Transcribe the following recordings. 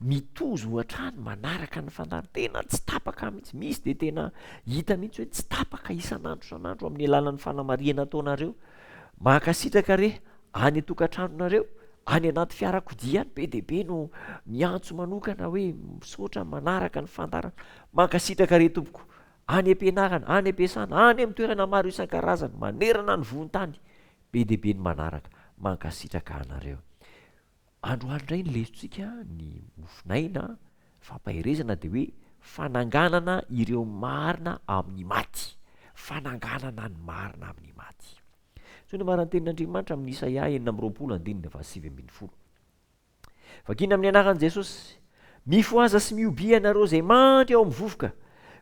mitozo hoatrany manaraka ny fandarin-tena tsy tapaka mihitsy, misy dia tena hita mihitsy hoe tsy tapaka isan'andro isan'andro amin'ny alalan'ny fanamarihana ataonareo, mankasitraka re, any an-tokantranonareo, any anaty fiarakodia any be dia be no miantso manokana hoe misaotra manaraka ny fandaharana, mankasitraka re tompoko, any am-pianarana, any am-piasana, any amin'ny toerana maro isan-karazany manerana ny vohon-tany be dia be ny manaraka, mankasitraka anareo. Androany indray ny lesotsika ny mofonaina fampaherezana dia hoe fananganana ireo marina amin'ny maty, fananganana ny marina amin'ny maty. Zao ny amaran'ny tenin'Andriamanitra amin'ny Isaia enina amby roapolo andininy fahasivy ambin'ny folo. Vakina amin'ny anaran'i Jesosy, mifohaza sy mihobia ianareo izay mandry ao amin'ny vovoka,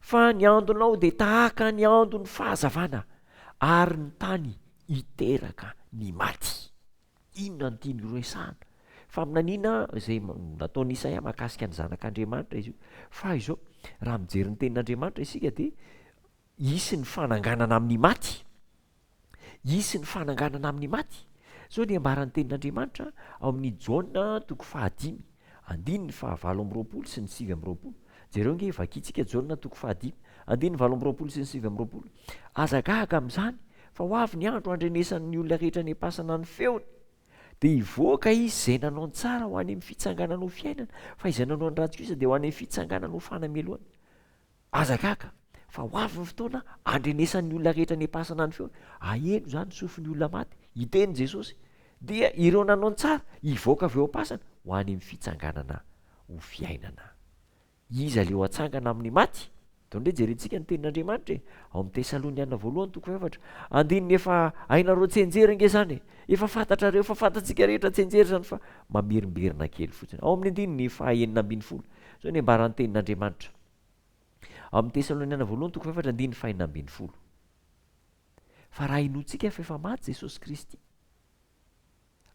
fa ny andonao dia tahaka ny andon'ny fahazavana, ary ny tany hiteraka ny maty. Inona no tiany horesahana? Faminaniana izay nataon'i Isaia mahakasika ny Zanak'Andriamanitra izy io. Fa izao, raha mijery ny Tenin'Andriamanitra isika dia hisy ny fananganana amin'ny maty. Hisy ny fananganana amin'ny maty. Izao dia ambaran'ny Tenin'Andriamanitra ao amin'ny Jaona toko fahadimy. Andininy faha valo amby roapolo sy ny sivy amby roapolo, jereo nge, vakintsika Jaona toko faha dimy, andininy valo amby roapolo sy ny sivy amby roapolo, Aza gaga amin'izany, fa ho avy ny andro handrenesan'ny olona rehetra any am-pasana ny feony, dia hivoaka izy, izay nanao ny tsara, ho any amin'ny fitsanganana ho fiainana, fa izay nanao ny ratsy kosa dia ho any amin'ny fitsanganana ho fanamelohana. Aza gaga fa ho avy ny fotoana handrenesan'ny olona rehetra any am-pasana ny feony, haheno izany ny sofin'ny olona maty, hiteny Jesosy, dia ireo nanao ny tsara hivoaka avy eo am-pasana ho any amin'ny fitsanganana ho fiainana. Iza ilay ho hatsangana amin'ny maty? Atao indray jerentsika ny tenin'Andriamanitra e, ao amin'ny Tesaloniana voalohany toko fahefatra, andininy efa hainareo tsenjery ange izany e, efa fantatrareo, efa fantatsika rehetra tsenjery izany fa mamerimberina kely fotsiny, ao amin'ny andininy faha enina ambin'ny folo, izao ny ambaran'ny tenin'Andriamanitra. Ao amin'ny Tesaloniana Voalohany toko fahefatra andininy fahenina ambin'ny folo. Fa raha inoantsika fa efa maty Jesosy Kristy,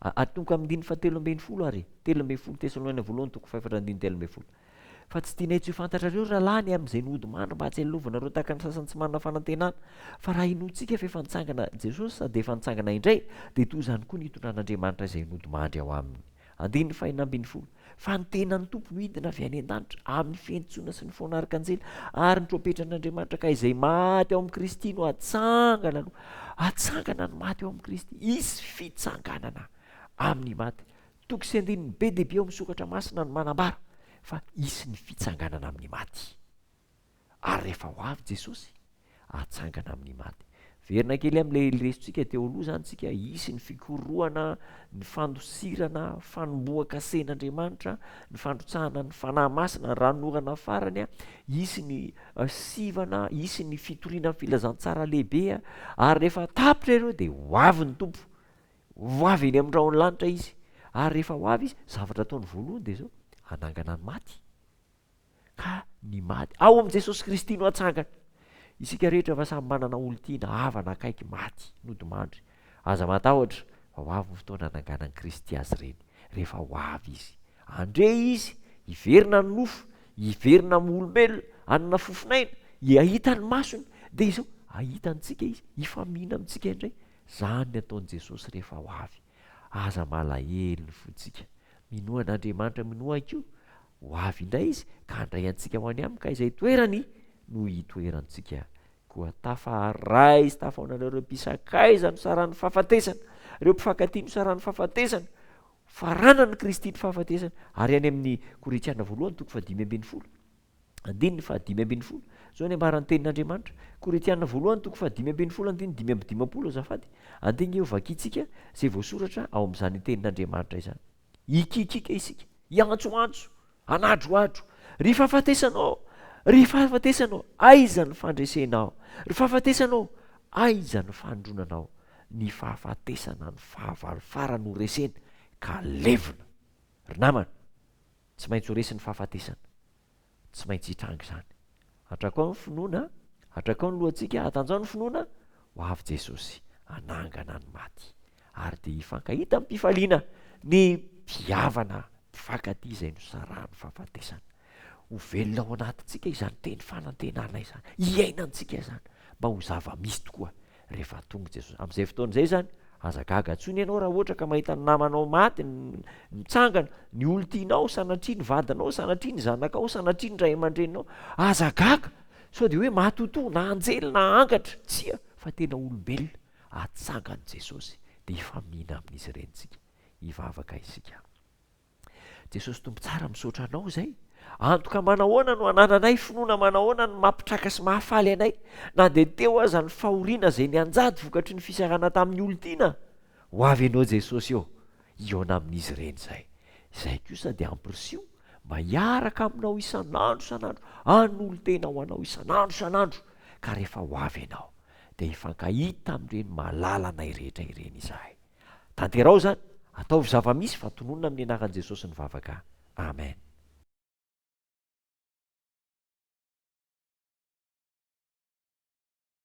atonoko amin'ny andininy fahatelo ambin'ny folo ary, telo ambin'ny folo Tesaloniana Voalohany toko fahefatra andininy telo ambin'ny folo. Fa tsy tianay tsy ho fantatrareo rahalahy ny amin'izay nody mando mba hahatsialovanareo tahaka ny sasany tsy manana fanantenana. Fa raha inoantsika fa efa nitsangana Jesosy sady efa nitsangana indray, dia toy izany koa ny hitondran'Andriamanitra izay nody mandry ao aminy. Andininy fahenina ambin'ny folo. Fa ny tenan'ny Tompo midina avy any an-danitra, amin'ny fiantsoana sy ny fona arkanjely, ary ny trompetran'Andriamanitra, ka izay maty ao amin'i Kristy no hatsangana aloha. Hatsangana ny maty ao amin'i Kristy. Hisy fitsanganana amin'ny maty. Toko sy andininy be dia be ao amin'ny Soratra Masina no manambara fa hisy ny fitsanganana amin'ny maty. Ary rehefa ho avy Jesosy, hatsangana amin'ny maty. Verina kely amin'ilay resotsika teo aloha izany isika, hisy ny fikorohana, ny fandosirana, fanombohan-kasen'Andriamanitra, ny fandrotsahana ny Fanahy Masina, ny ranonorana farany, hisy ny sivana, hisy ny fitoriana ny filazantsara lehibe, ary rehefa tapitra ireo dia ho avy ny Tompo. Ho avy eny amin'ny rahon'ny lanitra Izy. Ary rehefa ho avy Izy, zavatra ataony voalohany dia izao, hanangana ny maty. ka ny maty ao amin'i Jesosy Kristy no hatsangany. Isika rehetra fa samy manana olon-tiana, havana akaiky maty, nodimandry. Aza matahotra, fa ho avy ny fotoana hananganan'i Kristy azy ireny, rehefa ho avy Izy. Handre Izy, hiverina ny nofo, hiverina amin'ny olombelona, hanana fofon'aina, hahita ny masony, dia izao, hahita antsika Izy, hifamihina amintsika indray. Izany ny hataon'i Jesosy rehefa ho avy. Aza malahelo ny fontsika. Minoa an'Andriamanitra, minoa koa Ho avy indray Izy ka handray antsika ho any Aminy, ka izay toerany no hitoerantsika. Koa tafaharay sy tafaonareo ireo mpisakaiza nosaran'ny fahafatesana, ireo mpifankatia nosaran'ny fahafatesana, faranan'i Kristy ny fahafatesana, ary any amin'ny Korintiana voalohany toko fahadimy ambin'ny folo, andininy fahadimy ambin'ny folo, izao ny ambaran'ny tenin'Andriamanitra, Korintiana voalohany toko fahadimy ambin'ny folo andininy dimy amby dimampolo azafady, andinika eo vakintsika izay voasoratra ao amin'izany tenin'Andriamanitra izany. Hikiakiaka isika, hiantsoantso, hanadrohadro, Ry fahafatesana ô! Ry fahafatesana ô! Aiza ny fandresenao? Ry fahafatesana ô! Aiza ny fandronanao? Ny fahafatesana ny fahavalo farany ho resena ka levona. Ry namana, tsy maintsy ho resy ny fahafatesana. Tsy maintsy hitranga izany. Atrakao ny finoana, atrakao ny lohantsika, atanjaho ny finoana, ho avy Jesosy hanangana ny maty, ary dia hifankahita amim-pifaliana ny mpihavana mpifankatia izay nosarahan'ny fahafatesana. Ho velona ao anatintsika izany teny fanantenana izany, hiainantsika izany mba ho zava-misy tokoa, Rehefa tonga i Jesosy. Amin'izay fotoana izay izany, aza gaga intsony ianao raha ohatra ka mahita ny namanao maty mitsangana, ny olon-tianao, sanatria ny vadinao, sanatria ny zanakao, sanatria ny ray aman-dreninao. Aza gaga! Sao dia hoe matotoa, na anjely, na angatra. Tsia, fa tena olombelona. Hatsangany Jesosy, dia hifaminina amin'izy ireny isika. Hivavaka isika. Jesosy Tompo tsara misaotra anao zay antoka manahoana no anananay finoana manahoana no mampitraka sy mahafaly anay na dia teo aza ny fahoriana zay nianjady vokatry ny fisarana tamin'ny olon-tiana ho avy anao Jesosy ô hihaona amin'izy ireny zay zay kosa dia ampirisiho mba hiaraka aminao isan'andro isan'andro anolo-tena ho anao isan'andro isan'andro ka rehefa ho avy ianao dia hifankahita amin'ireny malalanay rehetra ireny izahay Tanteraho izany, ataovy zava-misy fa tononina amin'ny anaran'i Jesosy ny vavaka. Amen.